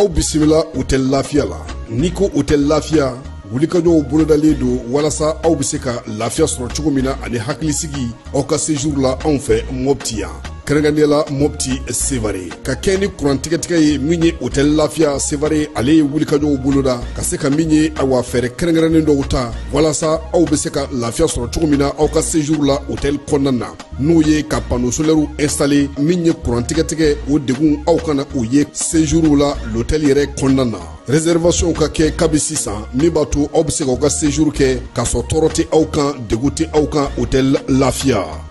aw bisimila hotɛli lafiya la n'i ko hotɛli lafiya wulikajɔw bolodalen don walasa aw bɛ se ka lafiya sɔrɔ cogo min na ani hakilisigi aw ka sejuru la anw fɛ mɔpti yan kɛrɛnkɛrɛnnenya la mɔpti sevare ka kɛɲɛ ni kurantigɛtigɛ ye min ye hotɛli lafiya sevare ale ye wulikajɔw boloda ka se ka min ye awa fɛɛrɛ kɛrɛnkɛrɛnnen dɔw ta walasa aw be se ka lafiya sɔrɔ cogo min na aw ka sejuru la hotɛli kɔnɔna na n'o ye ka pano solɛriw ɛnstale min ye kurantigɛtigɛ o degun aw kana o ye sejuru la lotɛli yɛrɛ kɔnɔna na rɛsɛrivasiyɔnw ka kɛ kabi sisan min b'a to aw be se k'aw ka sejuru kɛ k'a sɔrɔ tɔɔrɔ tɛ aw kan degun tɛ aw kan hotɛli lafiya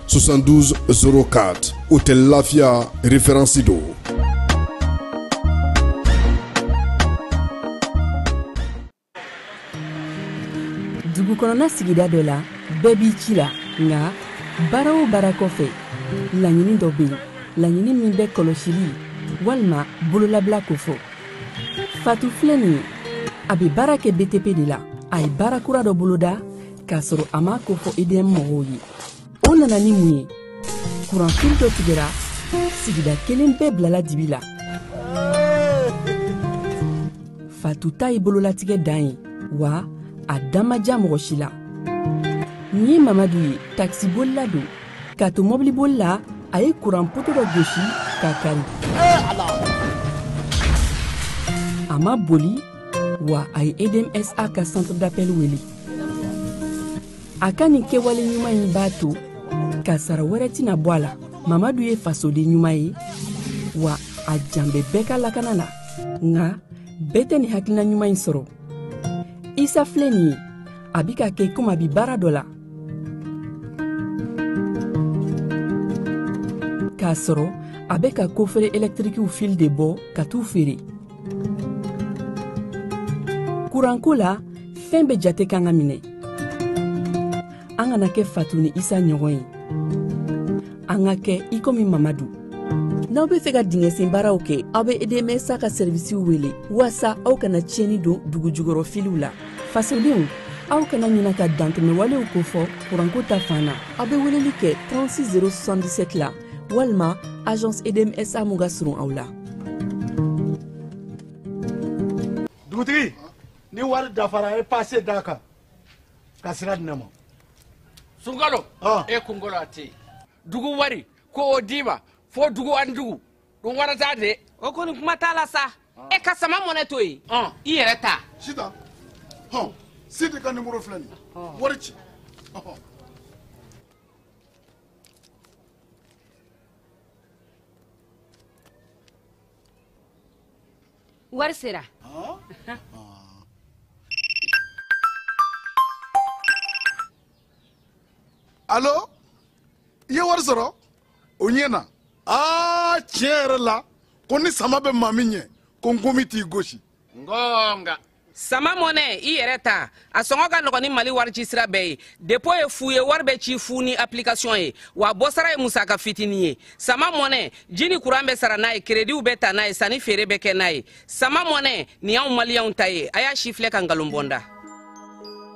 72 04 hotɛli lafiya referensi don dugu kɔnɔna sigida dɔ la bɛɛ b'i ci la nka baara o baara kɔfɛ laɲini dɔ bɛ yen laɲini min bɛ kɔlɔsili walima bololabila kofɔ fatu filɛ nin ye a bɛ baara kɛ btp de la a ye baara kura dɔ boloda k'a sɔrɔ a m'a kofɔ edm mɔgɔw ye o nana ni mun ye kuranfili dɔ tigɛra sigida kelen bɛɛ bilala dibi la fatu ta ye bololatigɛ dan ye wa a dan ma ja mɔgɔ si la nin ye mamadu ye takisibolila don k'a to mɔbiliboli la a ye kuran poto dɔ gosi k'a kari a ma boli wa a ye edmsa ka centre d'appel wele a ka nin kɛwale ɲuman in b'a to kasara wɛrɛ tɛna bɔ a la mamadu ye fasoden ɲuman ye wa a jan bɛ bɛɛ ka lakana la nka bɛɛ tɛ nin hakilina ɲuman in sɔrɔ isa filɛ nin ye a bi k'a kɛ komi a bi baara dɔ la k'a sɔrɔ a bɛ ka kofere ɛlɛtirikiw fili de bɔ ka t'u feere kuranko la fɛn bɛɛ jate kan ka minɛ an kana kɛ fatu ni isa ɲɔgɔn ye an ka kɛ i komi mamadu n'aw be fɛ ka dingɛsen baaraw kɛ aw be edmsa ka sɛrivisiw wele waasa aw kana tiɲɛni don dugu jukɔrɔ filiw la fasodenw aw kana ɲina ka dantɛmɛwalew kofɔ kuranko ta fan na aw be weleli kɛ 36 077 la walima agence edmsa mun ka surun aw la dugutigi ni wari dafara a ye pase d'a kan ka sira di ne ma sunkalo ah. e kunkolo a tɛ dugu wari ko o d'i ma fo dugu ani dugu dun wɛrɛ t'a de o kɔni kuma t'a la sa ah. e ka sama mɔnɛ to yen ah. i yɛrɛ ta sita hɔn sidi ka nimoro filɛ nin wari ci wari sera alo i ye wari sɔrɔ o ɲɛna aa tiɲɛ yɛrɛ la ko ni sama bɛ maa min ɲɛ ko ngomi t'i gosi ngonga sama money i yɛrɛ ta a sɔngɔ ka nɔgɔn ni mali warici sira bɛɛ ye dépôt ye fu ye wari bɛ ci fu ni application ye wa bɔsara ye musaka fitini ye sama money ji ni kuran bɛ sara n'a ye kerediw bɛ ta n'a ye sanni feere bɛ kɛ n'a ye sama money nin y'anw maliyɛnw ta ye a y'a sifilɛ ka nkalon bɔ n da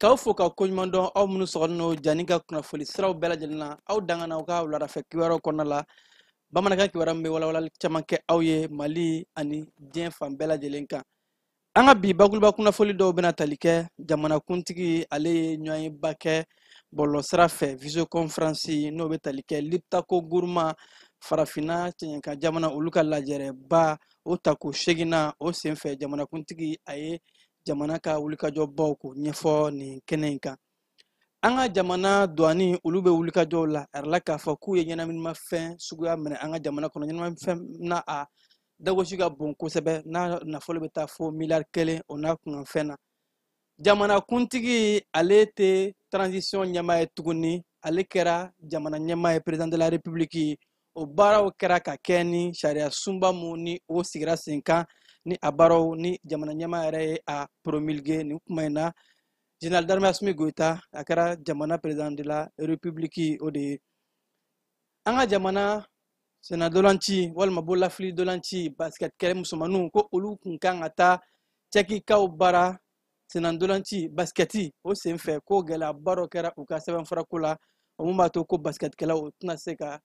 K'aw fo ka koɲuman dɔn aw minnu sɔgɔlen don diany ka kunnafoni siraw bɛɛ lajɛlen na aw danga na aw ka wuladafɛ kibaruyaw kɔnɔna la bamanankan kibaruya min bɛ walawalali caman kɛ aw ye mali ani diɲɛ fan bɛɛ lajɛlen kan an ka bi bakuruba kunnafoni dɔw bɛna tali kɛ jamanakuntigi ale ye ɲɔgɔnyeba kɛ bɔlɔlɔsira fɛ visioconférence n'o bɛ tali kɛ liptako guruma farafinna cɛɲɛka jamana olu ka lajɛrɛba o tako seginnan o senfɛ jamanakuntigi a ye jamana ka wulikajɔbaw ko ɲɛfɔ nin kɛnɛ in kan an ka jamana douane olu bɛ wulikajɔw la a yirala k'a fɔ k'u ye ɲɛnaminimafɛn suguya minɛ an ka jamana kɔnɔ ɲɛnaminimafɛn na a dagosi ka bon kosɛbɛ n'a nafolo bɛ taa fo miliyari kelen o n'a kunkanfɛn na jamanakuntigi ale tɛ transition ɲɛmaa ye tuguni ale kɛra jamana ɲɛmaa ye président de la république o baaraw kɛra ka kɛ ni sariya sunba mun ni o sigira sen kan ni a baaraw ni jamana ɲɛmaa yɛrɛ ye a promulguer nin kuma in na général d'armée assimi goïta a kɛra jamana président de la république o de ye an ka jamana senna ntolanci walima bololafili ntolanci basket kɛla musomanninw ko olu kun kan ka taa cɛkikaw bara senna ntolanci basikɛti o sen fɛ ko gɛlɛyaba dɔ kɛra u ka sɛbɛnfurako la o mun b'a to ko basikɛtikɛlaw u tɛna se ka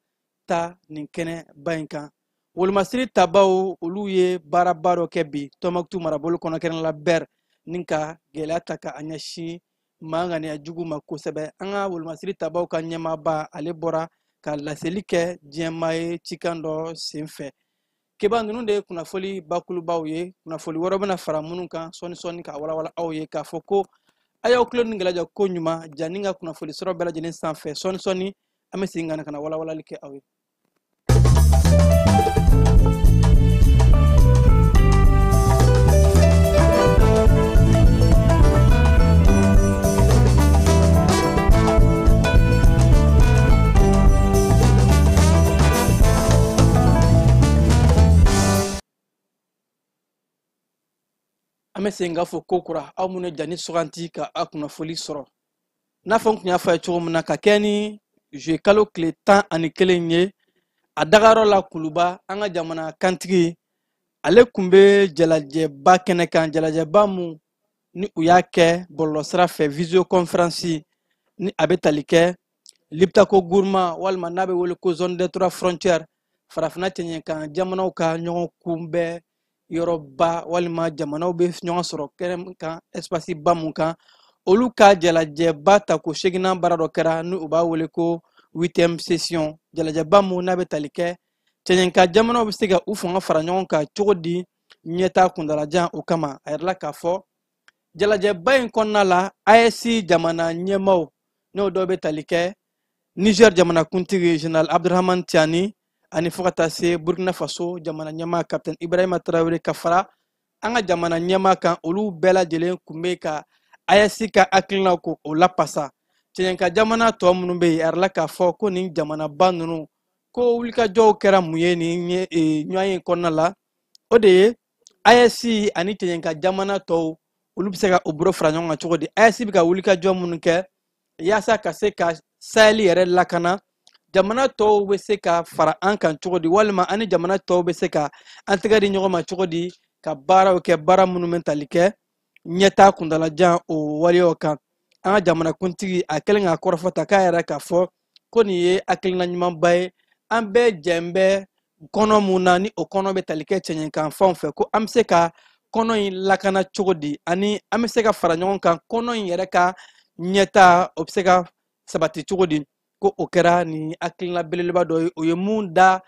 taa nin kɛnɛba in kan wolomasiri tabaw olu ye baaraba dɔ kɛ bi tɔnbukutu marabolo kɔnɔ kɛnɛ la bɛr ni ka gɛlɛya ta ka a ɲɛsin maa ŋaniya jugu ma kosɛbɛ an ka wolomasiri tabaw ka ɲɛmaaba ale bɔra ka laseli kɛ diɲɛmaa ye cikan dɔ sen fɛ keba ninnu de ye kunnafoli bakulubaw ye kunnafoli wɛrɛ bɛna fara minnu kan sɔɔni sɔɔni ka walawala aw ye k'a fɔ ko a y'aw tulo ni gɛlɛja koɲuman diany ka kunnafoli siraw bɛɛ lajɛlen sanfɛ sɔɔni sɔɔni an bɛ segin ka na ka na walawalali kɛ aw ye an bɛ segin k'a fo ko kura aw minnu ye ja nin suganti ka a kunnafoli sɔrɔ n'a fɔ n kun y'a fɔ a ye cogo min na ka kɛ ni zuye kalo tile tan ani kelen ye a dagayɔrɔ la kuluba an ka jamana kantigi ale kun bɛ jalajɛba kɛnɛ kan jalajɛba mun ni u y'a kɛ bɔlɔlɔsira fɛ visioconference ni a bɛ tali kɛ liptako guruma walima n'a bɛ wele ko zone des trois frontières farafina cɛɲɛkan jamanaw ka ɲɔgɔn kunbɛn yɔrɔba walima jamanaw bɛ ɲɔgɔn sɔrɔ kɛnɛ kan espace ba mun kan olu ka jalajɛba tako seginnan baara dɔ kɛra ni u b'a wele ko huitième session jalajɛba mun n'a bɛ tali kɛ cɛɲɛkan jamanaw bɛ se ka u fanga fara ɲɔgɔn kan cogo di ɲɛtaa kuntalajan o kama a yirala k'a fɔ jalajɛba in kɔnɔna la AES jamana ɲɛmaaw n'o dɔw bɛ tali kɛ Niger jamanakuntigi General Abdurahman Tiani ani fo ka taa se Burkina Faso jamana ɲɛmaa Capitaine Ibrahima Traore ka fara an ka jamana ɲɛmaa kan olu bɛɛ lajɛlen kun bɛ ka AES ka hakilinaw ko o lapasa cɛɲɛka jamana tɔw minnu bɛ yen a yirala k'a fɔ ko nin jamanaba ninnu ko wulikajɔw kɛra mun ye nin ɲɔgɔnye kɔnɔna la o de ye AES ani cɛɲɛka jamana tɔw olu bɛ se ka u bolo fara ɲɔgɔn kan cogo di AES bɛ ka wulikajɔ minnu kɛ yaasa ka se ka sahɛli yɛrɛ lakana jamana tɔw bɛ se ka fara an kan cogo di walima an ni jamana tɔw bɛ se ka an tɛgɛ di ɲɔgɔn ma cogo di ka baaraw kɛ baara minnu bɛ tali kɛ ɲɛtaa kuntalajan o waleyaw kan an ka jamanakuntigi a kɛlen ka kɔrɔfɔ ta k'a yira k'a fɔ ko nin ye hakilina ɲumanba ye an bɛɛ jɛn bɛ kɔnɔ mun na ni o kɔnɔ bɛ tali kɛ cɛɲɛkan fanw fɛ ko an bɛ se ka kɔnɔ in lakana cogo di ani an bɛ se ka fara ɲɔgɔn kan kɔnɔ in yɛrɛ ka ɲɛtaa o bɛ se ka sabati cogo di ko o kɛra nin hakilina belebeleba dɔ ye o ye mun da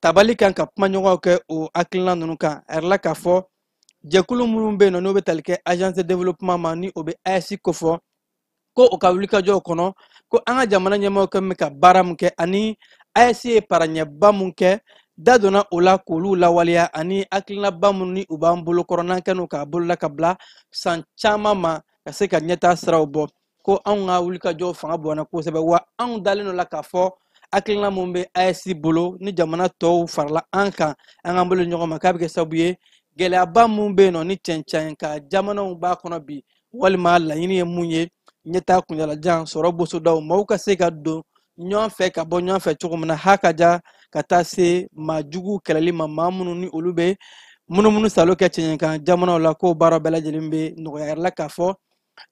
tabali kan ka kuma ɲɔgɔnw kɛ o hakilina ninnu kan a yirala k'a fɔ jɛkulu minnu bɛ yen nɔ n'o bɛ tali kɛ agence de développement ma ni o bɛ AES kofɔ ko u ka wulikajɔw kɔnɔ ko an ka jamana ɲɛmɔgɔ kɛ bɛ ka baara min kɛ ani AES ye paraɲɛba min kɛ da donna o la k'olu lawaleya ani hakilinaba minnu ni u b'an bolo kɔrɔ n'an kɛn'o k'a bolola ka bila san caman ma ka se ka ɲɛtaa siraw bɔ ko anw ka wulikajɔw fanga bonyana kosɛbɛ wa anw dalen d'o la k'a fɔ hakilina min bɛ AES bolo ni jamana tɔw farala an kan an k'an bolo ɲɔgɔn ma k'a bɛ kɛ sababu ye gɛlɛyaba min bɛ yen nɔ ni cɛncɛn kan jamanaw b'a kɔnɔ bi walima laɲini ye mun ye ɲɛtaa kuntaalajan sɔrɔ bosodaw maaw ka se ka don ɲɔgɔn fɛ ka bɔ ɲɔgɔn fɛ cogo min na ha ka ja ka taa se maa jugu kɛlɛli ma maa minnu ni olu bɛ munumunu salo kɛ cɛɲɛkan jamanaw la k'o baara bɛɛ lajɛlen bɛ nɔgɔya a yirala k'a fɔ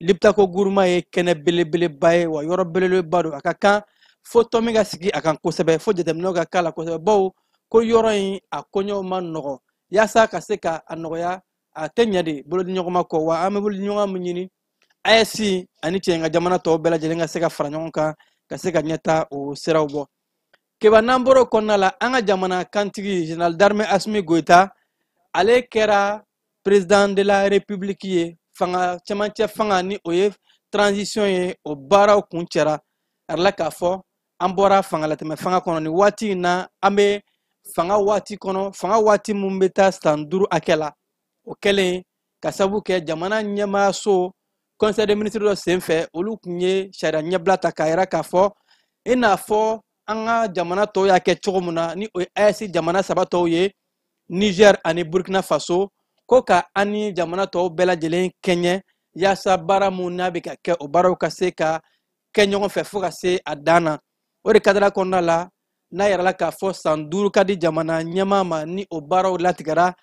lipitako guruma ye kɛnɛ belebeleba ye wa yɔrɔ belebeleba don a ka kan fo tɔmi ka sigi a kan kosɛbɛ fo jateminɛw ka k'a la kosɛbɛ bawo ko yɔrɔ in a koɲɛw ma nɔgɔ yaasa ka se ka a nɔgɔya a tɛ ɲɛ de bolodiɲɔgɔnma kɔ wa an bɛ bolodiɲɔgɔn min ɲini AES ani cɛ ka jamana tɔw bɛɛ lajɛlen ka se ka fara ɲɔgɔn kan ka se ka ɲɛtaa o siraw bɔ keba n'an bɔr'o kɔnɔna la an ka jamana kuntigi général d'armée asimi goyita ale kɛra président de la république ye fanga cɛmancɛ fanga ni o ye transition ye o baaraw kuncɛra a yirala k'a fɔ an bɔra fangalatɛmɛ fanga kɔnɔ ni waati in na an bɛ fanga waati kɔnɔ fanga waati min bɛ taa san duuru hakɛ la o kɛlen ka sabu kɛ jamana ɲɛmaayaso conseil des ministres dɔ senfɛ olu tun ye sariya ɲɛbila ta k'a yira k'a fɔ i n'a fɔ an ka jamana tɔw y'a kɛ cogo min na ni o ye AES jamana saba tɔw ye niger ani burkina faso ko ka an ni jamana tɔw bɛɛ lajɛlen kɛɲɛ yaasa baara minnu n'a bɛ ka kɛ o baaraw ka se ka kɛ ɲɔgɔn fɛ fo ka se a dan na o de kadara kɔnɔna la n'a yirala k'a fɔ san duuru ka di jamana ɲɛmaa ma ni o baaraw latigɛra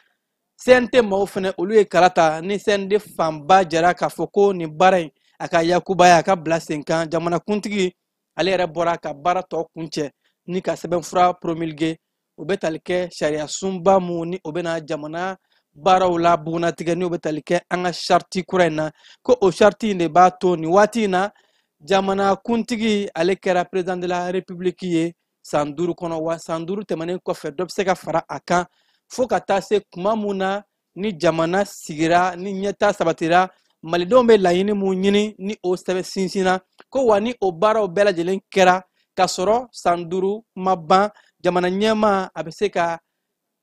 cnt maaw fana olu ye kala ta ni cnt fanba jɛra k'a fɔ ko nin baara in a ka yakubaya a ka bila sen kan jamanakuntigi ale yɛrɛ bɔra ka baara tɔ kuncɛ ni ka sɛbɛnfura promulguer o bɛ tali kɛ sariya sunba mun ni o bɛna jamana baaraw la bugunnatigɛ ni o bɛ tali kɛ an ka sariti kura in na ko o sariti in de b'a to nin waati in na jamana kuntigi ale kɛra perezidan de la repibuliki ye san duuru kɔnɔ wa san duuru tɛmɛnen kɔfɛ dɔ bɛ se ka fara a kan fo ka taa se kuma mun na ni jamana sigira ni ɲɛtaa sabatira malidenw bɛ laɲini mun ɲini ni o sɛbɛn sinsinna ko wa ni o baaraw bɛɛ lajɛlen kɛra ka sɔrɔ san duuru ma ban jamana ɲɛmaa a bɛ se ka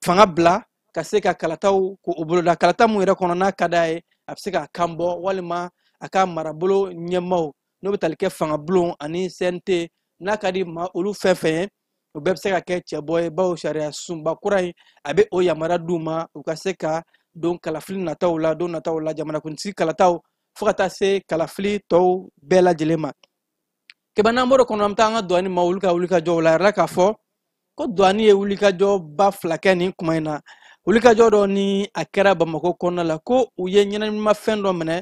fanga bila ka se ka kalataw ko boloda kalata mun yɛrɛ kɔnɔ n'a ka d'a ye a bɛ se k'a kan bɔ walima a ka marabolo ɲɛmaaw n'o bɛ tali kɛ fangabulon ani cnt n'a ka di maa olu fɛn fɛn ye o bɛɛ bɛ se ka kɛ cɛbɔ ye bawo sariya sunba kura in a bɛ o yamaruya d'u ma u ka se ka don kalafili nataw la don nataw la jamanakuntigi kalataw fo ka taa se kalafili tɔw bɛɛ lajɛlen ma keba n'an bɔr'o kɔnɔ an bɛ taa an ka douane maa olu ka wulikajɔw la a yirala k'a fɔ ko douane ye wulikajɔba fila kɛ nin kuma in na wulikajɔ dɔ ni a kɛra bamakɔ kɔnɔna la ko u ye ɲɛnaminimafɛn dɔ minɛ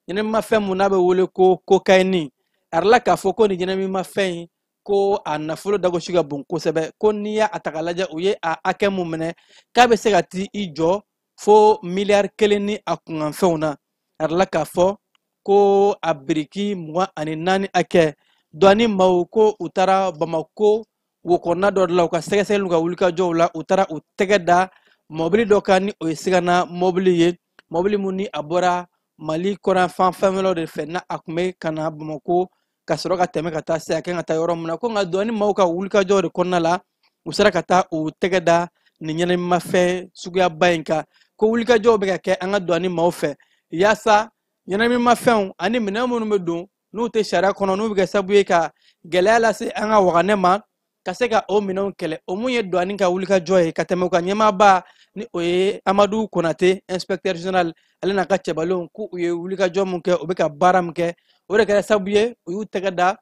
ɲɛnaminimafɛn mun n'a bɛ wele ko kokayini a yirala k'a fɔ ko nin ɲɛnaminimafɛn in ko a nafolo dagosi ka bon kosɛbɛ ko n'i y'a ta k'a lajɛ u ye a hakɛ mun minɛ k'a bɛ se ka t'i jɔ fo miliyari kelen ni a kunkanfɛnw na a dala k'a fɔ ko a biriki mugan ani naani hakɛ duwani maaw ko u taara bamako wokɔnɔna dɔ de la u ka sɛgɛsɛgɛliw ka wulikajɔw la u taara u tɛgɛ da mɔbili dɔ kan ni o ye sigana mɔbili ye mɔbili mun ni a bɔra mali kɔrɔnfan fɛnwɛrɛw de fɛ n'a kun bɛ ka na bamako ka sɔrɔ ka tɛmɛ ka taa se a kan ka taa yɔrɔ min na ko an ka duwani maaw ka wulikajɔ de kɔnɔna la u sera ka taa u tɛgɛ da nin ɲɛnaminimafɛn suguyaba in kan ko wulikajɔw bɛ ka kɛ an ka duwani maaw fɛ yaasa ɲɛnaminimafɛnw ani minɛn minnu bɛ don n'u tɛ sariya kɔnɔ n'u bɛ kɛ sababu ye ka gɛlɛya lase an ka waganɛ ma ka se ka o minɛnw kɛlɛ o mun ye duwani ka wulikajɔ ye ka tɛmɛ u ka ɲɛmaaba ni o ye amadu konate inspecteur general ale n'a ka cɛbalenw ko u ye wulikajɔ mun kɛ u bɛ ka baara min kɛ o de kɛra sabu ye u y'u tɛgɛ da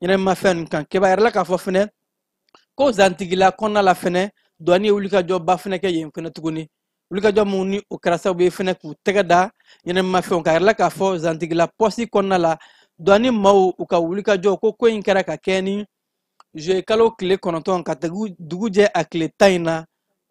ɲɛnaminimafɛn ninnu kan keba a yirala k'a fɔ fɛnɛ ko zantigila kɔnɔna la fɛnɛ duwani ye wulikajɔba fɛnɛ kɛ yen fɛnɛ tuguni wulikajɔ mun ni o kɛra sababu ye fɛnɛ k'u tɛgɛ da ɲɛnaminimafɛnw kan a yirala k'a fɔ zantigila pɔsi kɔnɔna la duwani maaw u ka wulikajɔ ko ko in kɛra ka kɛ ni juye kalo tile kɔnɔntɔn ka dugu jɛ a tile tan in na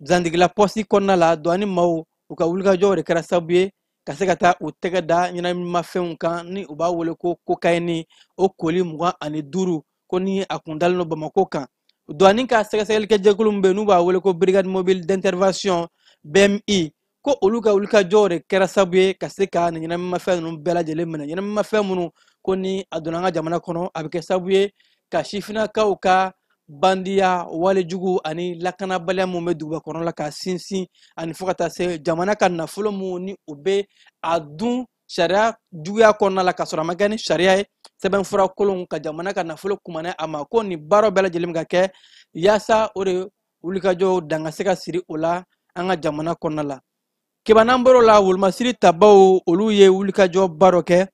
zantigila pɔsi kɔnɔna la duwani maaw u ka wulikajɔw de kɛra sababu ye ka se ka taa u tɛgɛ da ɲɛnaminimafɛnw kan ni u b'a wele ko kokayini o koli mugan ani duuru ko ni a kun dalen don bamako kan duwani ka sɛgɛsɛgɛlikɛ jɛkulu min bɛ n'u b'a wele ko brigade mobile d'intervention bmi ko olu ka wulikajɔw de kɛra sabu ye ka se ka nin ɲɛnaminimafɛn ninnu bɛɛ lajɛlen minɛ ɲɛnaminimafɛn minnu ko ni a donna an ka jamana kɔnɔ a bɛ kɛ sabu ye ka sifinnakaw ka bandiya wale jugu ani lakanabaliya minnu bɛ duguba kɔnɔ la ka sinsin ani fo ka taa se jamana ka nafolo minnu ni u bɛ a dun sariya juguya kɔnɔna la k'a sɔrɔ a ma kɛ ni sariya ye sɛbɛnfura kolon ka jamana ka nafolo kumana a ma ko nin baaraw bɛɛ lajɛlen bɛ ka kɛ yaasa o de wulikajɔw dan ka se ka siri o la an ka jamana kɔnɔna la keba n'an bɔr'o la wolomasiri tabaw olu ye wulikajɔba dɔ kɛ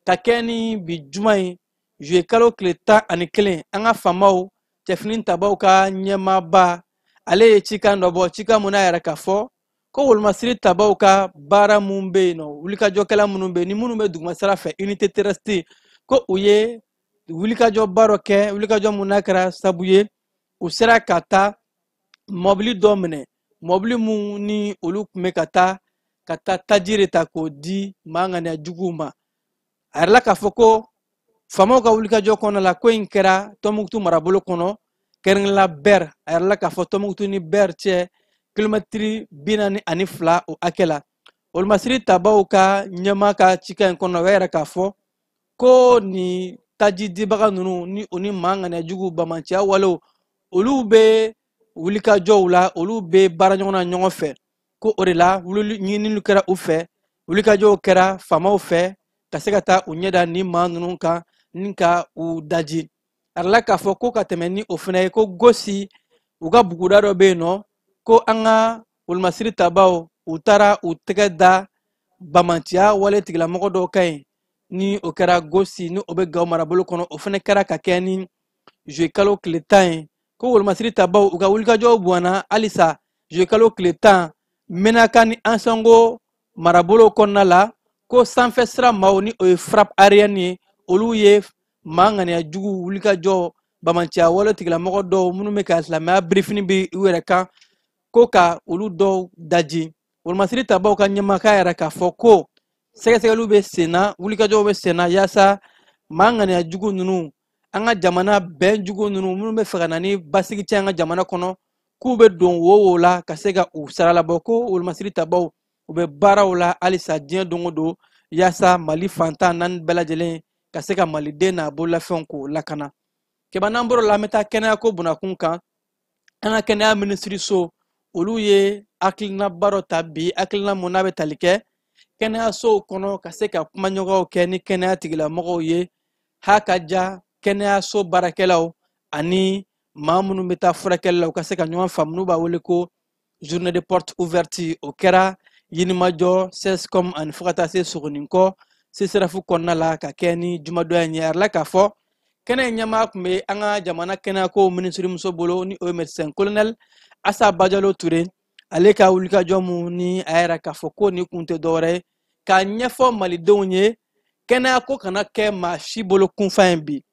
ka kɛ ni bi juma ye juye kalo tile tan ani kelen an ka faamaw cɛfini tabaw ka ɲɛmaaba ale ye cikan dɔ bɔ cikan mun n'a y'a yira k'a fɔ ko wolomasiri tabaw ka baara mun bɛ yen nɔ wulikajɔkɛla minnu bɛ yen ni minnu bɛ dugumasira fɛ unité terrestre ko u ye wulikajɔba dɔ kɛ wulikajɔ mun n'a kɛra sabu ye u sera ka taa mɔbili dɔ minɛ mɔbili mun ni olu kun bɛ ka taa ka taa taji de ta k'o di maa ŋaniya juguw ma a yirala k'a fɔ ko faamaw ka wulikajɔ kɔnɔ la ko in kɛra tɔnbukutu marabolo kɔnɔ kɛrɛnkɛrɛnla bɛr a yirala k'a fɔ tɔnbukutu ni bɛr cɛ kilomɛtiri bi naani ani fila o hakɛ la wolomasiri tabaw ka ɲɛmaa ka cikan in kɔnɔna u y'a yira k'a fɔ ko nin taji dibaga ninnu ni o ni maa ŋaniya jugu bamanciya walew olu bɛ wulikajɔw la olu bɛ baara ɲɔgɔn na ɲɔgɔn fɛ ko o de la wulili ɲininiw kɛra u fɛ wulikajɔw kɛra faamaw fɛ ka se ka taa u ɲɛ da nin maa ninnu kan ni ka u daji a yirala k'a fɔ ko ka tɛmɛ ni o fana ye ko gosi u ka buguda dɔ bɛ yen nɔ ko an ka wolomasiri tabaw u taara u tɛgɛ da bamanciya wale tigilamɔgɔ dɔw kan yen ni o kɛra gosi ni o bɛ gawo marabolo kɔnɔ o fana kɛra ka kɛ ni juillet kalo tile tan ye ko wolomasiri tabaw u ka wulikajɔw bonyana halisa juillet kalo tile tan menaka ni ansango marabolo kɔnɔna la ko sanfɛ sira maaw ni o ye frappe aérienne ye olu ye maa ŋaniya jugu wulikajɔ bamanciya wale tigilamɔgɔ dɔw minnu bɛ ka silamɛya birifini biri u yɛrɛ kan ko ka olu dɔw daji wolomasiri tabaw ka ɲɛmaakɛ y'a yira k'a fɔ ko sɛgɛsɛgɛliw bɛ senna wulikajɔw bɛ senna yaasa maa ŋaniya jugu ninnu an ka jamana bɛn jugu ninnu minnu bɛ fɛ ka na ni basigi cɛn an ka jamana kɔnɔ k'u bɛ don wo o wo la ka se ka u saralabɔ ko wolomasiri tabaw u bɛ baaraw la halisa diɲɛ don o don yaasa mali fan tan ni naani bɛɛ lajɛlen ka se ka maliden n'a bololafɛnw k'o lakana kɛba n'an bɔr'o la an bɛ taa kɛnɛyako bunakun kan an ka kɛnɛya minisiriso olu ye hakilinaba dɔ ta bi hakilina mun n'a bɛ tali kɛ kɛnɛyasow kɔnɔ ka se ka kumaɲɔgɔnw kɛ ni kɛnɛya tigilamɔgɔw ye ha ka ja kɛnɛyaso baarakɛlaw ani maa minnu bɛ taa furakɛli la u ka se ka ɲɔgɔn faamu n'u b'a wele ko journée de porte ouverte o kɛra yirimajɔ sescom ani fo ka taa se sogoninkɔ sesirafu kɔnɔna la ka kɛ ni jumadɔya in ye a yirala k'a fɔ kɛnɛ in ɲɛmaa tun bɛ an ka jamana kɛnɛyako minisirimuso bolo ni o ye médecin colonel asa bajalo ture ale ka wulikajɔ mun ni a y'a yira k'a fɔ ko nin kun tɛ dɔwɛrɛ ye k'a ɲɛfɔ malidenw ye kɛnɛyako kana kɛ maa si bolo kunfan ye bi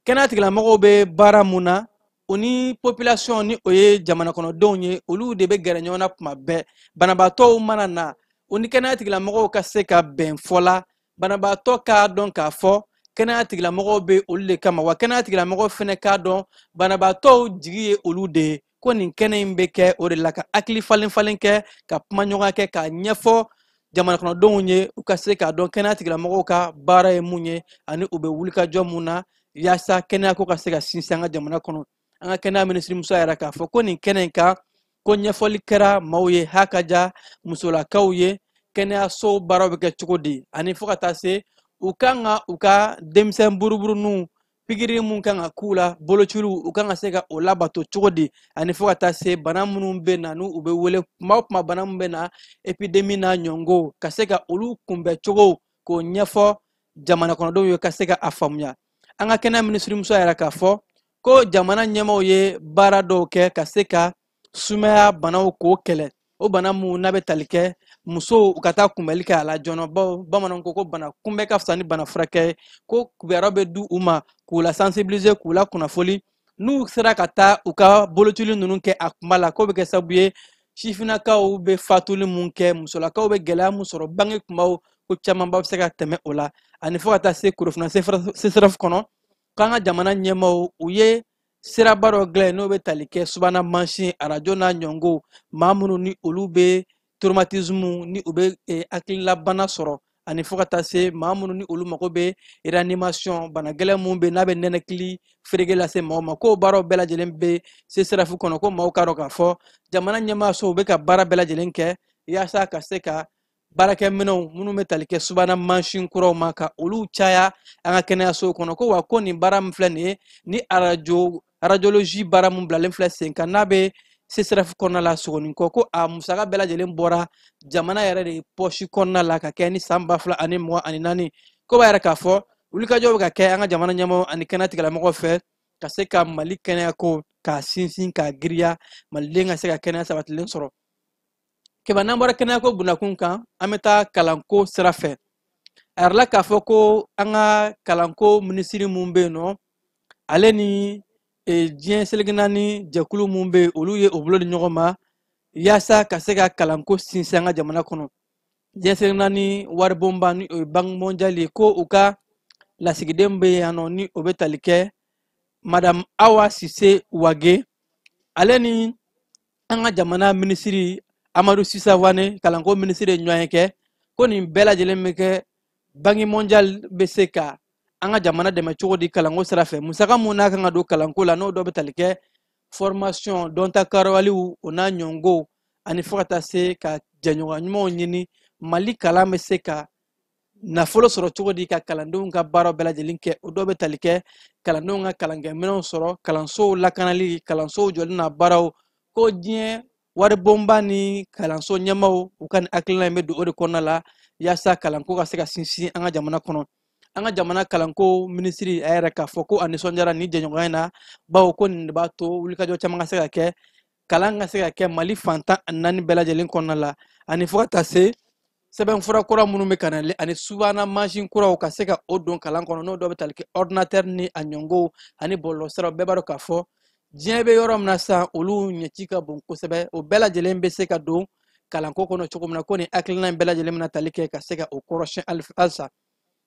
kɛnɛya tigilamɔgɔw bɛ baara mun na o ni population ni o ye jamana kɔnɔdenw ye olu de bɛ gɛrɛ ɲɔgɔn na kuma bɛɛ banabaatɔw mana na o ni kɛnɛya tigilamɔgɔw ka se ka bɛn fɔ la banabaatɔ k'a dɔn k'a fɔ kɛnɛya tigilamɔgɔw bɛ olu de kama wa kɛnɛya tigilamɔgɔw fana k'a dɔn banabaatɔw jigi ye olu de ye ko nin kɛnɛ in bɛ kɛ o de la ka hakili falen falen kɛ ka kumaɲɔgɔnya kɛ k'a ɲɛfɔ jamana kɔnɔdenw ye u ka se k'a dɔn kɛnɛya tigilamɔgɔw ka baara ye mun ye ani u bɛ wulikajɔ mun na yaasa kɛnɛyako ka se ka sinsin an ka jamana kɔnɔ an ka kɛnɛya minisirimuso y'a yira k'a fɔ ko nin kɛnɛ in kan ko ɲɛfɔli kɛra maaw ye ha ka ja musolakaw ye kɛnɛyasow baaraw bɛ kɛ cogo di ani fo ka taa se u kan ka u ka denmisɛn buruburuninw pikiri mun kan ka k'u la bolociliw u kan ka se ka o labato cogo di ani fo ka taa se bana minnu bɛ na n'u bɛ wele kuma o kuma bana minnu bɛ na epidemi n'a ɲɔngow ka se ka olu kunbɛn cogo k'o ɲɛfɔ jamana kɔnɔdenw ye ka se ka a faamuya an ka kɛnɛya minisirimuso y'a yira k'a fɔ ko jamana ɲɛmaaw ye baara dɔw kɛ ka se ka sumaya banaw k'o kɛlɛ o bana mun n'a bɛ tali kɛ musow u ka taa kunbɛli kɛ a la joona bawo bamananw ko ko bana kunbɛ ka fisa ni bana furakɛ ye ko kibaruya bɛ di u ma k'u la sensibiliser k'u la kunnafoli n'u sera ka taa u ka bolocili ninnu kɛ a kuma la k'o bɛ kɛ sababu ye sifinnakaw bɛ fatuli mun kɛ musolakaw bɛ gɛlɛya mun sɔrɔ bange kumaw ko camanba bɛ se ka tɛmɛ o la ani fo ka taa se korofina CSREF kɔnɔ k'an ka jamana ɲɛmaaw u ye siraba dɔ dilan n'o bɛ tali kɛ subana mansin arajo n'a ɲɔngow maa minnu ni olu bɛ traumatisme ni u bɛ eh, hakililabana sɔrɔ ani fo ka taa se maa minnu ni olu mago bɛ reanimation bana gɛlɛn minnu bɛ n'a bɛ nɛnɛkili ferege lase maaw ma k'o baaraw bɛɛ lajɛlen bɛ CSREF kɔnɔ ko maaw k'a dɔn k'a fɔ jamana ɲɛmaaso u bɛ ka baara bɛɛ lajɛlen kɛ yaasa ka se ka baarakɛminɛw minnu bɛ tali kɛ subana mansin kuraw ma ka olu caya an ka kɛnɛyasow kɔnɔ ko wa ko nin baara min filɛ nin ye ni arajolozi baara min bilalen filɛ sen kan n'a bɛ CSREF kɔnɔna la Sogoninkɔ ko a musaka bɛɛ lajɛlen bɔra jamana yɛrɛ de pɔsi kɔnɔna la ka kɛ ni san ba fila ani mugan ani naani k'o b'a yira k'a fɔ wulikajɔ bɛ ka kɛ an ka jamana ɲɛmaaw ani kɛnɛya tigilamɔgɔw fɛ ka se ka mali kɛnɛyako k'a sinsin k'a girinya maliden ka se ka kɛnɛya sabatilen sɔrɔ kɛba n'an bɔra kɛnɛyako bunakun kan an bɛ taa kalanko sira fɛ a yirala k'a fɔ ko an ka kalanko minisiri mun bɛ yen nɔ ale ni e, diɲɛ seleke naani jɛkulu mun bɛ yen olu ye u bolo di ɲɔgɔn ma yaasa ka se ka kalanko sinsin an ka jamana kɔnɔ diɲɛ seleke naani waribonba ni o ye banki mɔndiyali ye ko u ka lasigiden bɛ yan nɔ ni o bɛ tali kɛ madame awa sise wage ale ni an ka jamana minisiri amadu si sawane kalanko minisiri ye ɲɔgɔnye kɛ ko nin bɛɛ lajɛlen bɛ kɛ banki mondial bɛ se ka an ka jamana dɛmɛ cogo di kalanko sira fɛ musaka mun n'a kan ka don kalanko la n'o dɔ bɛ tali kɛ formation dɔnta karawaliw o n'a ɲɔngow ani fo ka taa se ka jɛɲɔgɔn ɲumanw ɲini mali kalan bɛ se ka nafolo sɔrɔ cogo di ka kalandenw ka baaraw bɛɛ lajɛlen kɛ o dɔw bɛ tali kɛ kalandenw ka kalankɛminɛnw sɔrɔ kalansow lakanali kalansow jɔli n'a baaraw ko diɲɛ waribonba ni kalanso ɲɛmaaw u ka nin hakilina in bɛ don o de kɔnɔna la yaasa kalanko ka se ka sinsin an ka jamana kɔnɔ an ka jamana kalanko minisiri a y'a yira k'a fɔ ko a nisɔndiyara nin jɛɲɔgɔnya in na bawo ko nin de b'a to wulikajɔ caman ka se ka kɛ kalan ka se ka kɛ mali fan tan ani naani bɛɛ lajɛlen kɔnɔna la ani fo ka taa se sɛbɛn fura kura minnu bɛ ka na ani subahana mansin kuraw ka se ka o don kalan kɔnɔ n'o dɔ bɛ tali kɛ ordinatɛri ni a ɲɔngow ani bɔlɔlɔsiraw bɛɛ b'a dɔn k'a fɔ diɲɛ bɛ yɔrɔ min na sisan olu ɲɛci ka bon kosɛbɛ o bɛɛ lajɛlen bɛ se ka don kalanko kɔnɔ cogo min na ko nin hakilina in bɛɛ lajɛlen bɛna tali kɛ ka se ka o kɔrɔsiyɛn halisa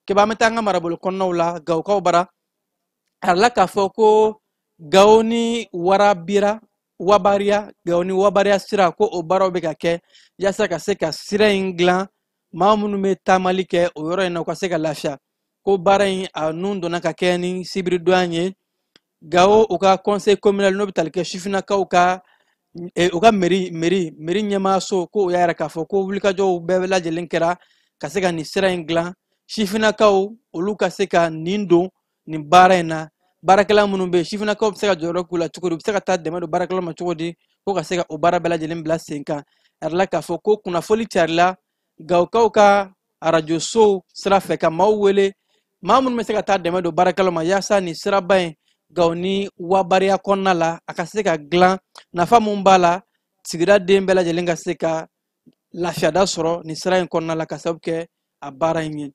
keba an bɛ taa an ka marabolo kɔnɔnaw la gawokaw bara a yirala k'a fɔ ko gawo ni warabira wabariya gawo ni wabariya sira ko o baaraw bɛ ka kɛ yaasa ka se ka sira in dilan maa minnu bɛ taamali kɛ o yɔrɔ in na u ka se ka lafiya ko baara in a nun donna ka kɛ ni sibiridon in ye gawo u ka conseil communal n'o bɛ tali kɛ sifinnakaw ka e, u ka meri meri meri ɲɛmaaso ko u y'a yira k'a fɔ ko wulikajɔw bɛɛ lajɛlen kɛra ka se ka nin sira in dilan sifinnakaw olu ka se ka nin don nin baara in na baarakɛla minnu bɛ yen sifinnakaw bɛ se ka jɔyɔrɔ k'u la cogo di u bɛ se ka taa dɛmɛ don baarakɛlaw ma cogo di ko ka se ka o baara bɛɛ lajɛlen bila sen kan a yirala k'a fɔ ko kunnafoli carila gawokaw ka arajosow sira fɛ ka maaw wele maa minnu bɛ se ka taa dɛmɛ don baarakɛlaw ma yaasa nin siraba in gawo ni wabariya kɔnɔna la a ka se ka dilan nafa mun b'a la sigidaden bɛɛ lajɛlen ka se ka lafiyada sɔrɔ nin sira in kɔnɔna la ka sababu kɛ a baara in ye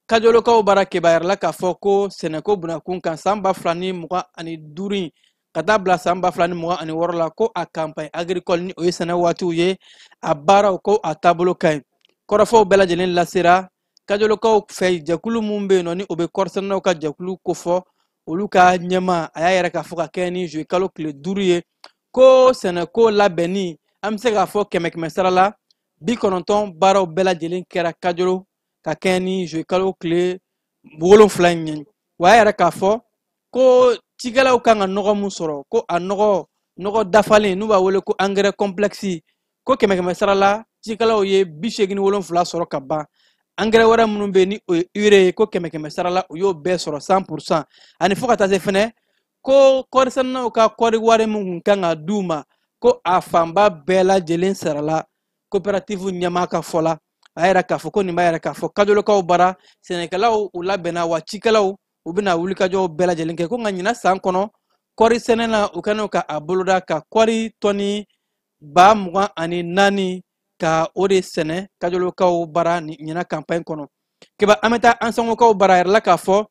kajolokaw bara keba a yirala k'a fɔ ko sɛnɛko bunda kun kan san ba fila ni mugan ani duuru in ka taa bila san ba fila ni mugan ani wɔɔrɔ la ko a kanpaɲi agrikɔli ni o ye sɛnɛ waatiw ye a baaraw ko a taabolo ka ɲi kɔrɔfɔw bɛɛ lajɛlen lasera kajolokaw fɛ jɛkulu min bɛ yen nɔ ni o bɛ kɔɔrisɛnɛnaw ka jɛkulu kofɔ olu ka ɲɛmaa a y'a yira k'a fɔ ka kɛɲɛ ni zuye kalo tile duuru ye ko sɛnɛko labɛnni an bɛ se k'a fɔ kɛmɛ kɛmɛ sara la bi kɔnɔntɔn baaraw bɛɛ lajɛlen kɛra kajolo ka kɛɲɛ ni zuye kalo tile wolonfila in ye wa a y'a yira k'a fɔ ko cikɛlaw kan ka nɔgɔ mun sɔrɔ ko a nɔgɔ dafalen n'u b'a wele ko angɛrɛ kɔnplɛkisi ko kɛmɛ kɛmɛ sara la cikɛlaw ye bi seegin ni wolonfila sɔrɔ ka ban angɛrɛ wɛrɛ minnu bɛ yen ni o ye ure ye ko kɛmɛ kɛmɛ sara la u y'o bɛɛ sɔrɔ san purusan ani fo ka taa se fɛnɛ ko kɔɔrisɛnɛnaw ka kɔɔri wari min kun kan ka di u ma ko a fanba bɛɛ lajɛlen sarala kopɛratifu ɲɛmaa ka fɔ la a y'a yira k'a fɔ ko nin b'a yira k'a fɔ kajolokaw bara sɛnɛkɛlaw u labɛnna wa cikɛlaw u bɛna wulikajɔw bɛɛ lajɛlen kɛ ko nka ɲina san kɔnɔ kɔɔri sɛnɛ na u kɔnna ka a boloda ka kɔɔri tɔni ba mugan ani naani ka o de sɛnɛ kajolokaw bara ɲina kanpaɲi kɔnɔ keba an bɛ taa ansongokaw bara a yirala k'a fɔ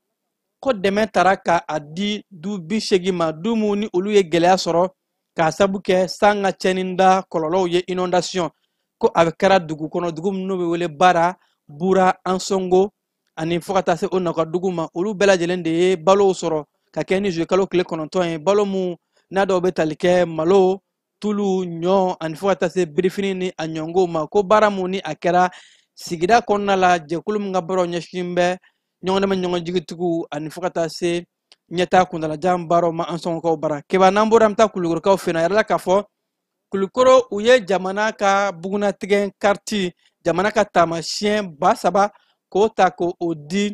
ko dɛmɛ tara ka a di du bi seegin ma du minnu ni olu ye gɛlɛya sɔrɔ k'a sabu kɛ san ka cɛnni da kɔlɔlɔw ye inondation ko a kɛra dugu kɔnɔ dugu minnu bɛ wele bara bura ansongo ani fo ka taa se o naka dugu ma olu bɛɛ lajɛlen de ye balow sɔrɔ ka kɛ ni zuwekalo tile kɔnɔntɔn ye balo mun n'a dɔw bɛ tali kɛ malo tulu ɲɔ ani fo ka taa se birifini ni a ɲɔngow ma ko baara mun ni a kɛra sigida kɔnɔna la jɛkulu min ka baaraw ɲɛsin bɛ ɲɔgɔndɛmɛ ɲɔgɔn jigituguw ani fo ka taa se ɲɛtaa kuntalajan baaraw ma ansongokaw bara keba n'an bɔra an bɛ taa kulukorokaw fɛ yen a yirala k'a fɔ kulukoro u ye jamana ka bugunnatigɛ kariti jamana ka taamasiyɛn ba saba k'o ta k'o di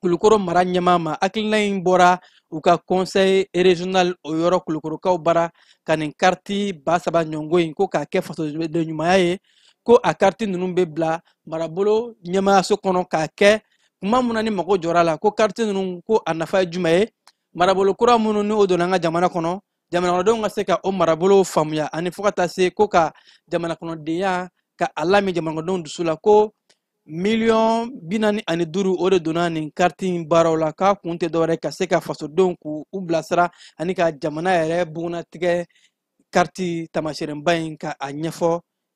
kulukoro mara ɲɛmaa ma hakilina in bɔra u ka conseil régional o yɔrɔ kulukorokaw bara ka nin kariti ba saba ɲɔngo in ko k'a kɛ fasoden ɲumanya ye ko a kariti ninnu bɛ bila marabolo ɲɛmaayaso kɔnɔ k'a kɛ kuma mun na ni mago jɔra a la ko kariti ninnu ko a nafa ye jumɛn ye marabolo kura minnu ni o donna an ka jamana kɔnɔ jamanakɔnɔdenw ka se ka o marabolow faamuya ani fo ka taa se ko ka jamanakɔnɔdenya ka a lamin jamanakɔnɔdenw dusu la ko miliyɔn bi naani ani duuru o de donna nin kariti baaraw la k'a kun tɛ dɔwɛrɛ ka se ka fasodenw k'u bilasira ani ka jamana yɛrɛ bugunnatigɛ kariti taamaseereba in ka a ɲɛfɔ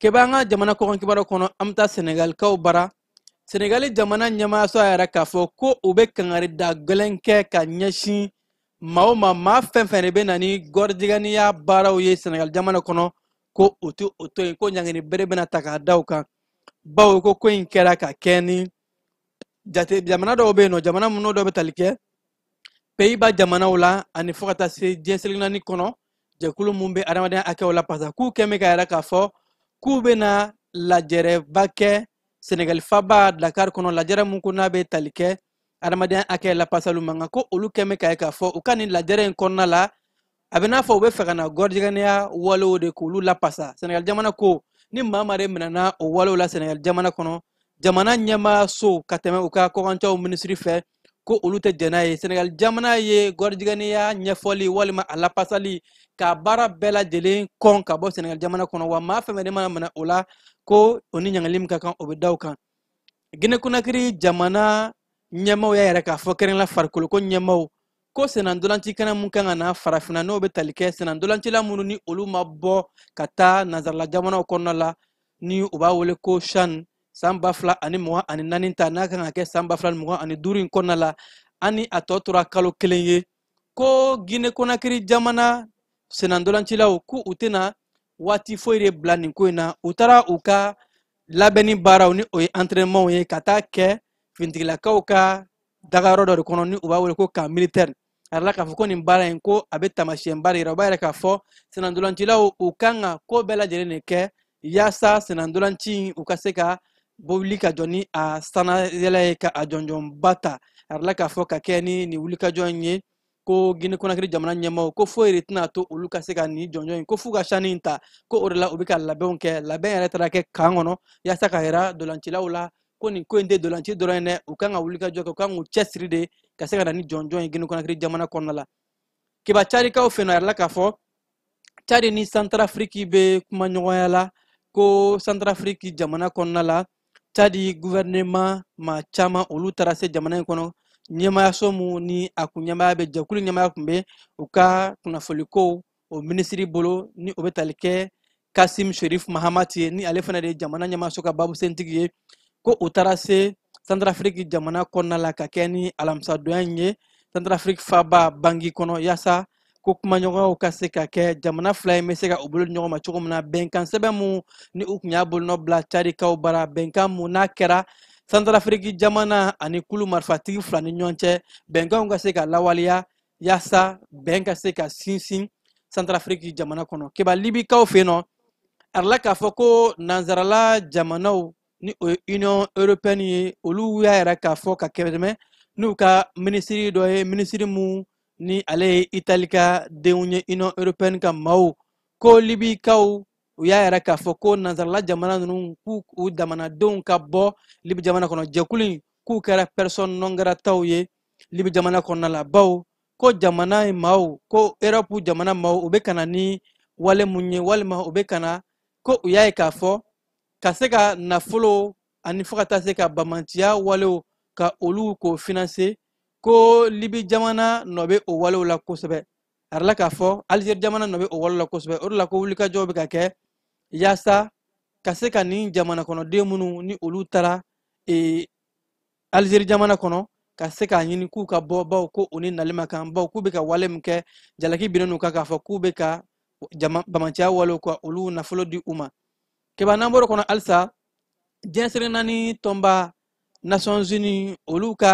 keba an ka jamana kɔkan kibaru kɔnɔ an bɛ taa senegalikaw bara senegali jamana ɲɛmaayaso y'a yira k'a fɔ ko u bɛ kangari da gɛlɛn kɛ ka ɲɛsin maa o maa maa fɛn fɛn de bɛ na ni gɔrijigɛniya baaraw ye senegali jamana kɔnɔ ko u tɛ o to yen ko ɲangini bere bɛna ta k'a da u kan bawo ko ko in kɛra ka kɛ ni jamana dɔw bɛ yen nɔ jamana minnu dɔw bɛ tali kɛ peyiba jamanaw la ani fo ka taa se diɲɛ seleke naani kɔnɔ jɛkulu mun bɛ adamadenya hakɛw lapasa k'u kɛn bɛ k'a yira k'a fɔ k'u bɛna lajɛrɛba kɛ senegali faba dakar kɔnɔ lajɛrɛ mun ko n'a bɛ tali kɛ adamadenya hakɛ lapasaliw man kan ko olu kɛn bɛ k'a ye k'a fɔ u ka nin lajɛrɛ in kɔnɔna la a bɛ n'a fɔ u bɛ fɛ ka na gɔrijigɛniya walew de k'olu lapasa sɛnɛgali jamana ko ni maa maa de minɛna o walew la sɛnɛgali jamana kɔnɔ jamana ɲɛmaayaso ka tɛmɛ u ka kɔkancɛw minisiri fɛ ko olu tɛ jɛn n'a ye sɛnɛgali jamana ye gɔrijigɛniya ɲɛfɔli walima a lapasali k'a baara bɛɛ lajɛlen kɔn ka bɔ sɛnɛgali jamana kɔnɔ wa maa fɛn fɛn de mana minɛ o la ko o ni ɲangili min ka kan o bɛ da o kan gine konakiri jamana ɲɛmaaw y'a yira k'a fɔ kɛrɛnkɛrɛn la farikoloko ɲɛmaaw ko sennantolaci kɛnɛ mun kan ka na farafinna n'o bɛ tali kɛ sennantolacila minnu ni olu ma bɔ ka taa nanzarala jamanaw kɔnɔna la ni u b'a wele ko shan san ba fila ani mugan ani naani ta n'a kan ka kɛ san ba fila ni mugan ani duuru in kɔnɔna la ani a tɔ tora kalo kelen ye ko gine konakiri jamana sennantolacilaw ko u tɛna waati foyi de bila nin ko in na u taara u ka labɛnni baaraw ni o ye entraînementw ye ka taa kɛ fintigilakaw ka dagayɔrɔ dɔ de kɔnɔ ni u b'a wele ko camp militaire a yirala k'a fɔ ko nin baara in ko a bɛ taamasiyɛnba de yira u b'a yira k'a fɔ senandolancilaw u kan ka ko bɛɛ lajɛlen de kɛ yaasa senandolanci in u ka se ka bɔ wuli ka jɔ ni a sanayɛlɛ ye ka a jɔnjɔnba ta a yirala k'a fɔ ka kɛ ni nin wulikajɔ in ye ko gine konakiri jamana ɲɛmaaw ko foyi de tɛna to olu ka se ka nin jɔnjɔn in ko f'u ka CHAN in ta ko o de la u bɛ ka labɛnw kɛ labɛn yɛrɛ taara kɛ camp kɔnɔ yaasa ka yira dolancilaw la ko nin ko in tɛ dolanci dɔrɔn ye dɛ u kan ka wulikajɔ kɛ u kan k'u cɛsiri de ka se ka na ni jɔnjɔn ye gine konakiri jamana kɔnɔna la kiba cadikaw fɛ yen nɔ a yirala k'a fɔ cadi ni santarafiriki bɛ kumaɲɔgɔnya la ko santarafiriki jamana kɔnɔna la cadi guvɛrɛnema maa caman olu taara se jamana in kɔnɔ ɲɛmaayaso mun ni a kun ɲɛmaaya bɛ jɛkulu ɲɛmaaya kun bɛ u ka kunnafonikow o minisiri bolo ni o bɛ tali kɛ kasim sherif mahamati ye ni ale fana de ye jamana ɲɛmaayaso ka babusentigi ye ko u taara se santarafiriki jamana kɔnɔna la ka kɛ ni alamisadonya in ye santarafiriki faba bangi kɔnɔ yaasa ko kumaɲɔgɔnw ka se ka kɛ jamana fila in bɛ se ka u bolo di ɲɔgɔn ma cogo min na bɛnkan sɛbɛn mun ni u kun y'a bolonɔ bila cadikaw bara bɛnkan mun n'a kɛra santarafiriki jamana ani kulu marifatigi fila ni ɲɔgɔn cɛ bɛnkanw ka se ka lawaleya yaasa bɛn ka se ka sinsin santarafiriki jamana kɔnɔ keba libikaw fɛ yen nɔ a yirala k'a fɔ ko nansarala jamanaw ni o ye union européenne ye olu y'a yira k'a fɔ ka kɛmɛ n'u ka minisiri dɔ ye minisiri mun ni ale ye itali ka denw ye union européenne ka maaw ko libikaw u y'a yira k'a fɔ ko nansarala jamana ninnu k'u jamanadenw ka bɔ libi jamana kɔnɔ jɛkulu in k'u kɛra persona non grataw ye libi jamana kɔnɔna la baw ko jamana in maaw ko erɔpu jamana maaw u bɛ ka na ni wale mun ye walima u bɛ ka na ko u y'a ye k'a fɔ ka se ka nafolo ani fo ka taa se ka bamanciya walew ka olu k'o financer ko libi jamana nɔ bɛ o walew la kosɛbɛ a yirala k'a fɔ alizeri jamana nɔ bɛ o walew la kosɛbɛ o de la ko wulikajɔw bɛ ka kɛ yaasa ka se ka nin jamana kɔnɔden minnu ni olu taara e, alizeri jamana kɔnɔ ka se k'a ɲini k'u ka bɔ baw ko u ni nali ma kan baw k'u bɛ ka wale min kɛ jalaki binnen n'u kan k'a fɔ k'u bɛ ka jama bamanciya walew ka olu nafolo di u ma kɛba n'an bɔr'o kɔnɔ halisa diɲɛ seleke naani tɔnba nations unies olu ka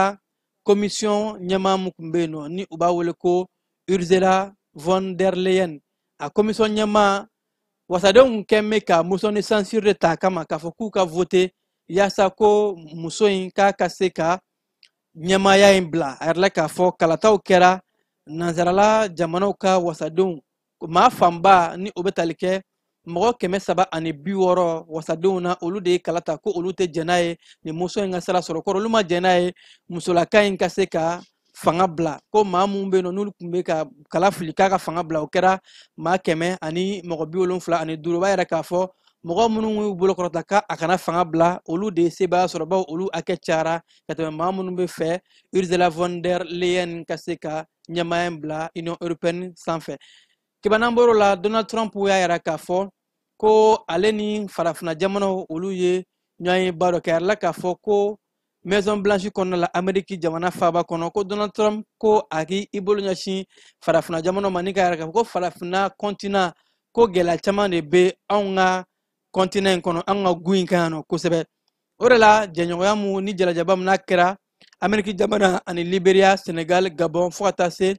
commission ɲɛmaa mun tun bɛ yen nɔ ni u b'a wele ko ursula von der leyen a commission ɲɛmaa wasadenw kun bɛ ka motion de censure de ta a kama k'a fɔ k'u ka voter yaasa ko muso in k'a ka se ka ɲɛmaaya in bila a yirala k'a fɔ kalataw kɛra nansarala jamanaw ka wasadenw maa fanba ni o bɛ tali kɛ mɔgɔ kɛmɛ saba ani bi wɔɔrɔ wasadenw na olu de ye kala ta ko olu tɛ jɛn n'a ye nin muso in ka sira sɔrɔ kɔrɔ olu ma jɛn n'a ye musolaka in ka se ka fanga bila ko maa minnu bɛ yen nɔ n'olu tun bɛ ka kala fili k'a ka fanga bila o kɛra maa kɛmɛ ani mɔgɔ bi wolonfila ani duuru o b'a yira k'a fɔ mɔgɔ minnu y'u bolo kɔrɔta ka a kana fanga bila olu de ye sebaaya sɔrɔ bawo olu hakɛ cayara ka tɛmɛ maa minnu bɛ fɛ ursula von der leyen ka se ka ɲɛmaaya in bila union européenne sanfɛ keba n'an bɔr'o la donald trump y'a yira k'a fɔ ko ale ni farafina jamanaw olu ye ɲɔgɔnyeba dɔ kɛ a yirala k'a fɔ ko maison blanche kɔnɔna la ameriki jamana faaba kɔnɔ ko donald trump ko a k'i bolo ɲɛsin farafina jamana ma ni k'a yira k'a fɔ ko farafina kɔntina ko gɛlɛya caman de bɛ anw ka kɔntina in kɔnɔ an ka gun in kan yan nɔ kosɛbɛ o de la jɛɲɔgɔnya mun ni jalajɛba min n'a kɛra ameriki jamana ani liberia senegal gabon fo ka taa se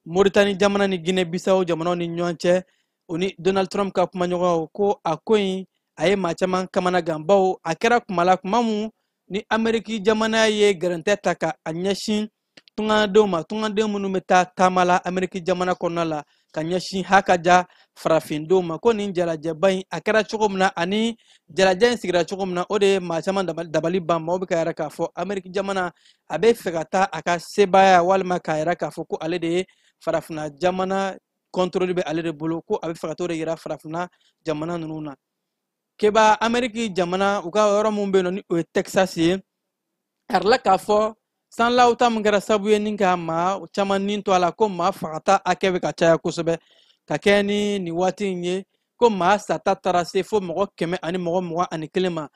moritani jamana ni guinee bisawo jamanaw ni ɲɔgɔn cɛ o ni donald trump ka kumaɲɔgɔnw ko a ko in a ye maa caman kamana gan bawo a kɛra kuma la kuma min ni ameriki jamana ye gɛrɛntɛ ta ka a ɲɛsin tungadenw ma tungaden minnu bɛ taa taama la ameriki jamana kɔnɔna la ka ɲɛsin hakaja farafindenw ma ko nin jalajɛba in a kɛra cogo min na ani jalajɛ in sigira cogo min na o de ye maa caman dabali ban maaw bɛ k'a yira k'a fɔ ameriki jamana a bɛ fɛ ka taa a ka sebaaya walima k'a yira k'a fɔ ko ale de ye farafina jamana kɔntoroli bɛ ale de bolo ko a bɛ fɛ ka t'o de yira farafina jamana ninnu na keba ameriki jamana u ka yɔrɔ min bɛ yen nɔ ni o ye texas ye a yirala k'a fɔ sanlaw ta min kɛra sabu ye ni ka maa caman ni to a la ko maa fagata hakɛ bɛ ka caya kosɛbɛ ka kɛɲɛ ni nin waati in ye ko maa sata taara se fo mɔgɔ kɛmɛ ani mɔgɔ mugan ani kelen ma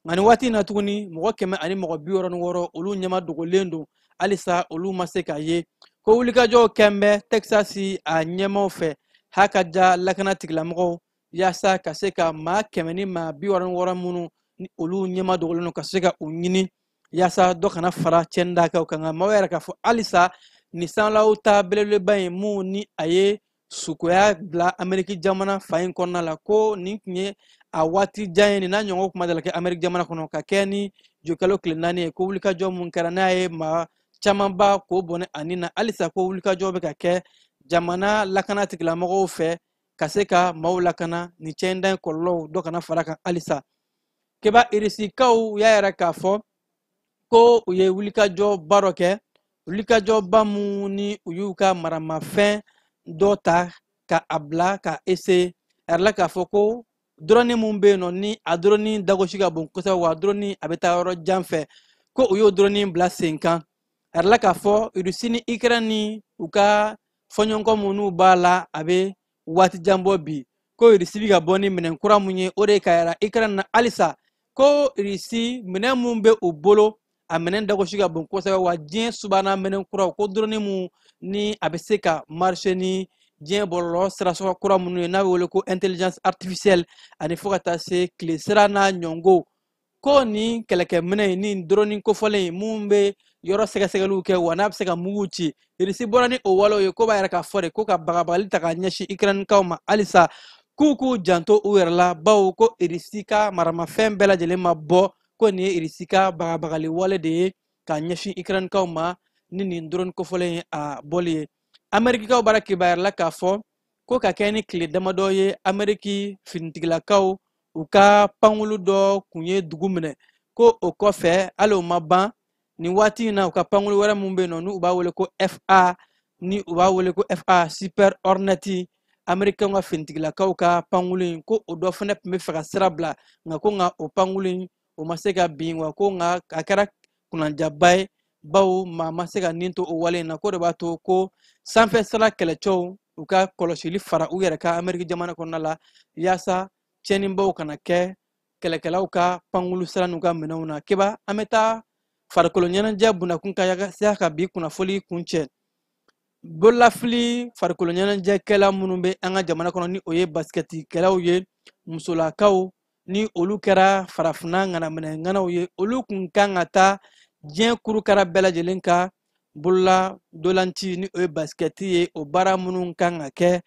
nka nin waati in na tuguni mɔgɔ kɛmɛ ani mɔgɔ bi wɔɔrɔ ni wɔɔrɔ olu ɲɛma dogolen don halisa olu ma se ka ye ko wulikajɔw kɛn bɛ texas a ɲɛmaaw fɛ haka ja lakana tigilamɔgɔw yaasa ka se ka maa kɛmɛ ni maa bi wɔɔrɔ ni wɔɔrɔ minnu ni olu ɲɛma dogolen don ka se ka u ɲini yaasa dɔ kana fara cɛnni dakunw kan nka maaw y'a yira k'a fɔ halisa nin sanlaw ta belebeleba in mun ni a ye sukoya bila ameriki jamana fan in kɔnɔna la ko nin tun ye a waati jan ye nin n'a ɲɔgɔn tun ma deli ka kɛ ameriki jamana kɔnɔ ka kɛɲɛ ni zuyekalo tile naani ye ko wulikajɔ mun kɛra n'a ye maa camanba k'o bɔnɛ a ni na halisa ko wulikajɔ bɛ ka kɛ jamana lakana tigilamɔgɔw fɛ ka se ka maaw lakana nin cɛnda in kɔlɔlɔw dɔ kana fara kan halisa keba irisikaw y'a yira k'a fɔ ko u ye wulikajɔba dɔ kɛ wulikajɔba min ni u y'u ka maramafɛn dɔ ta ka a bila ka ese a yirala k'a fɔ ko dɔrɔni min bɛ yen nɔ ni a dɔrɔni dagosi ka bon kosɛbɛ wa dɔrɔni a bɛ taa yɔrɔ jan fɛ ko u y'o dɔrɔni bila sen kan a yirala k'a fɔ irisi ni ikɛrɛn ni u ka fɔɲɔgɔnkɔ minnu b'a la a bɛ waati jan bɔ bi ko irisi bɛ ka bɔ ni minɛn kura mun ye o de ye k'a yira ikirɛni na halisa ko irisi minɛn mun bɛ u bolo a minɛn dagosi ka bon kosɛbɛ wa diɲɛ subahana minɛn kuraw ko dɔrɔni mun ni a bɛ se ka marcher ni diɲɛ bɔlɔlɔ sirasɔrɔ kura minnu ye n'a bɛ wele ko intelligence artificielle ani fo ka taa se tile sira n'a ɲɔngo ko nin kɛlɛkɛminɛ in ni dɔrɔni kofɔlen in mun bɛ yɔrɔ sɛgɛsɛgɛliw kɛ wa n'a bɛ se ka mugu ci irisi bɔra ni o walew ye ko b'a yira k'a fɔ de ko ka bagabagali ta ka ɲɛsin ikirɛnikaw ma halisa k'u k'u janto u yɛrɛ la bawo ko irisi ka maramafɛn bɛɛ lajɛlen ma bɔ ko nin ye irisi ka bagabagali wale de ye ka ɲɛsin ikirɛnikaw ma ni nin dɔrɔni kofɔlen in a bɔli ye amerikikaw bara kibaruya la k'a fɔ ko ka kɛɲɛ ni tile damadɔ ye ameriki finitigilakaw u ka pankulu dɔ kun ye dugu minɛ ko o kɔfɛ hali o ma ban nin waati in na u ka pankulu wɛrɛ min bɛ yen nɔ n'u b'a wele ko fa ni u b'a wele ko fa super hornet amerikɛnw ka finitigilakaw ka pankulu in ko o dɔ fana tun bɛ fɛ ka sira bila nka ko nka o pankulu in o ma se ka bin wa ko nka a kɛra kunnandiyaba ye bawo maa ma se ka nin to o wale in na ko de b'a to ko sanfɛ sira kɛlɛcɛw u ka kɔlɔsili fara u yɛrɛ kan ameriki jamana kɔnɔna la yaasa tiɲɛnibaw kana kɛ kɛlɛkɛlaw ka pankulu sira n'u ka minɛnw na keba an bɛ taa farikolo ɲɛnajɛ bundakun kan yaasa ka bi kunnafoli kuncɛ bololafili farikolo ɲɛnajɛkɛla minnu bɛ an ka jamana kɔnɔ ni o ye basikɛtikɛlaw ye musolakaw ni olu kɛra farafinna ŋanaminɛ ŋanaw ye olu kun kan ka taa diɲɛ kurukara bɛɛ lajɛlen ka bolola ntolaci ni o ye basikɛti ye o baara minnu kan ka kɛ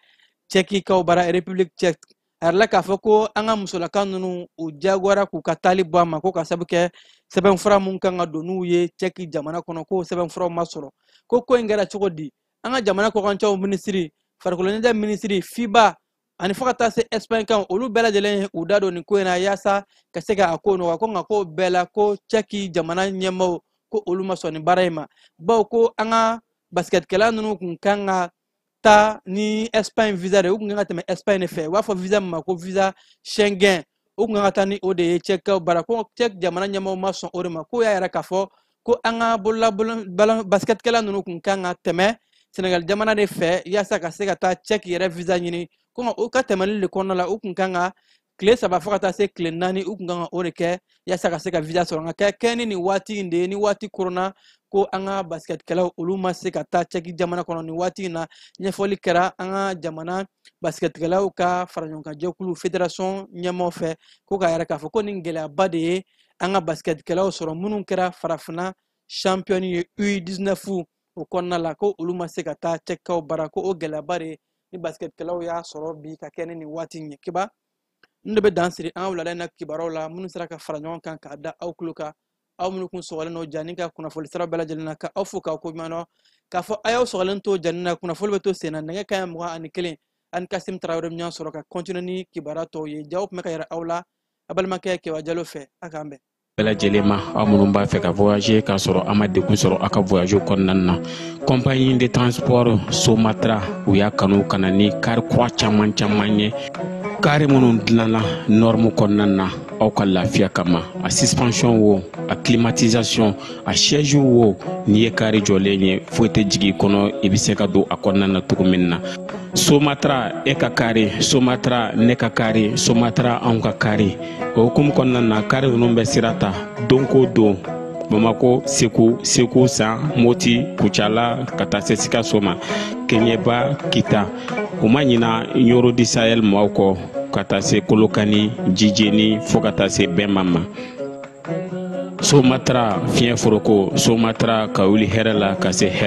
cɛkikaw bara republiki cɛk a yirala k'a fɔ ko an ka musolaka ninnu u diyagoyara k'u ka taali bɔ a ma ko ka sabu kɛ sɛbɛnfura minnu kan ka don n'u ye cɛki jamana kɔnɔ k'o sɛbɛnfuraw ma sɔrɔ ko ko in kɛra cogo di an ka jamana kɔkancɛw minisiri farikolo ɲɛnajɛ minisiri fiba ani fo ka taa se espagne kan olu bɛɛ lajɛlen ye u da don nin ko in na yaasa ka se ka a ko nɔgɔya ko nka ko bɛɛ la ko cɛki jamana ɲɛmaaw ko olu ma sɔn nin baara in ma bawo ko an ka basikɛtikɛla ninnu kun kan ka taa ni espagne visa de u kun kan ka tɛmɛ espagne de fɛ u b'a fɔ visa min ma ko visa schengen u kun kan ka taa ni o de ye cɛkikaw bara ko cɛk jamana ɲɛmɔgɔ ma sɔn o de ma k'o y'a yira k'a fɔ ko an ka bolo basikɛtikɛla ninnu kun kan ka tɛmɛ senegali jamana de fɛ yaasa ka se ka taa cɛk yɛrɛ visa ɲini ko u ka tɛmɛli de kɔnɔna la u kun kan ka tile saba fo ka taa se tile naani u kun kan ka o de kɛ yaasa ka se ka visa sɔrɔ nka ka kɛɲɛ ni nin waati in de ye ni waati koronna ko an ka basikɛtikɛlaw olu ma se ka taa cɛki jamana kɔnɔ nin waati in na ɲɛfɔli kɛra an ka jamana basikɛtikɛlaw ka faraɲɔgɔnkanjɛkulu federasɔn ɲɛmɔgɔ fɛ ko k'a yira k'a fɔ ko nin gɛlɛyaba de ye an ka basikɛtikɛlaw sɔrɔ minnu kɛra farafinna champion ye u 19 o kɔnɔna la ko olu ma se ka taa cɛkikaw bara ko o gɛlɛyaba de ni basikɛtikɛlaw y'a sɔrɔ bi ka kɛɲɛ ni waati in ye kibaru in de bɛ dan siri an ka wulada in na kibaruyaw la minnu sera ka fara ɲɔgɔn kan k'a da aw tulo kan aw minnu kun sɔgɔlen don jani ka kunnafoli sira bɛɛ lajɛlen na ka aw fo k'aw ko ɲuman dɔn k'a fɔ a y'aw sɔgɔlen to jani na kunnafoli bɛ to sen na nɛgɛ kaɲɛ mugan ni kelen aw ni kasim tarawele ɲɔgɔn sɔrɔ ka kɔntine ni kibaruya tɔw ye jaw tun bɛ ka yira aw la a balimakɛ kewa jalo fɛ a k'an bɛn bɛɛ lajɛlen ma aw minnu b'a fɛ ka voyager k'a sɔrɔ a ma degun sɔrɔ a ka voyage kɔnɔna na compagnie de transport somatra u y'a kanu ka na ni kari kura caman caman ye kari minnu dilanna nɔrmu kɔnɔna na aw ka lafiya kama a suspension wo a climatisation a siège wo n'i ye kari jɔlen ye foyi tɛ jigin i kɔnɔ i bɛ se ka don a kɔnɔna na cogo min na somatra e ka kari somatra ne ka kari somatra anw ka kari o hukumu kɔnɔna na kari ninnu bɛ sira ta don ko don bamako segu segu san moti kucala ka taa se sikaso ma keɲeba kita u ma ɲina ɲɔrɔ du sahel maaw kɔ ka taa se kolokani jijeni fo ka taa se bɛma ma somatara fiɲɛ foroko somatara ka wuli hɛrɛ la ka se hɛrɛ